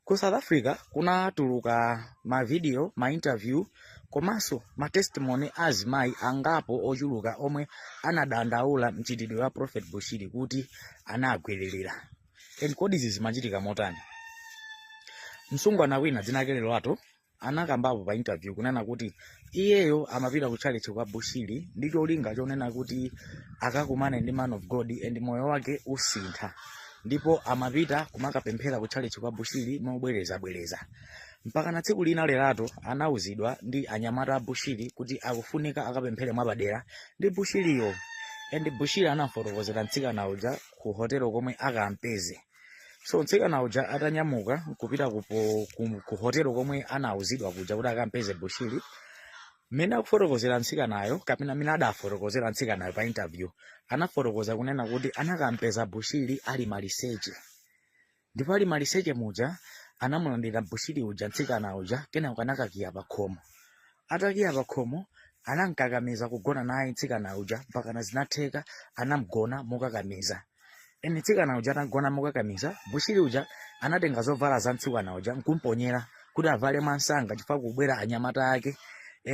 Ku South Africa kunatuluka mavidiyo, mainterview komanso matestimony a azimayi angapo ochuluka omwe anadandaula mchitidwe wa Prophet Bushiri kuti anagwiririra. And kodi izi zimachitika motani? Msungwana wina dzina lake Lerato anakambapo pa interview kunena kuti iyeyo amapita ku church kwa bushiri ndi cholinga chonena kuti akakumane ndi man of god and moyo wake usintha ndipo amapita kumakapemphera ku church kwa bushiri mobwerezabwereza mpakana tsiku lina lerato anauzidwa ndi anyamata a bushiri kuti akufunika akapemphere mwapadera ndi bushiriyo and bushiri anamfotokozera mtsikana uja ku hotelo komwe akampeze so mtsikana uja atanyamuka kupita ku hotelo komwe anauzidwa kuja kuti akampeze bushiri mmene akufotokozera mtsikanayo kapena mmene adafotokozera mtsikanayo pa interview anafotokoza kunena kuti anakampeza bushiri ali maliseche ndipo ali maliseche muja anamulandira bushiri uja mtsikana uja kenako anakakiya pa khomo atakiya pa khomo anamkakamiza kugona naye mtsikana uja mpakana zinatheka anamgona mokakamiza and mtsikana uja atamgona mokakamiza bushiri uja anatenga zovala za mtsikana uja nkumponyera kuti avale mwansanga chifukwa kubwera anyamata ake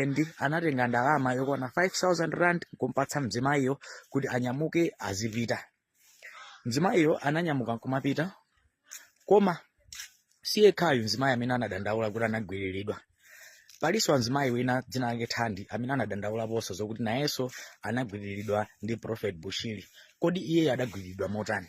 and anatenga ndalama yokwana 5000 rand nkumpatsa mzimayiyo kuti anyamuke azipita mzimayiyo ananyamuka nkumapita koma si yekhayu mzimayi amene anadandaula kuti anagwiriridwa palinso mzimayi wina dzina lake thandi amene anadandaulaponso zokuti nayenso anagwiriridwa ndi prophet bushiri kodi iyeyo adagwiriridwa motani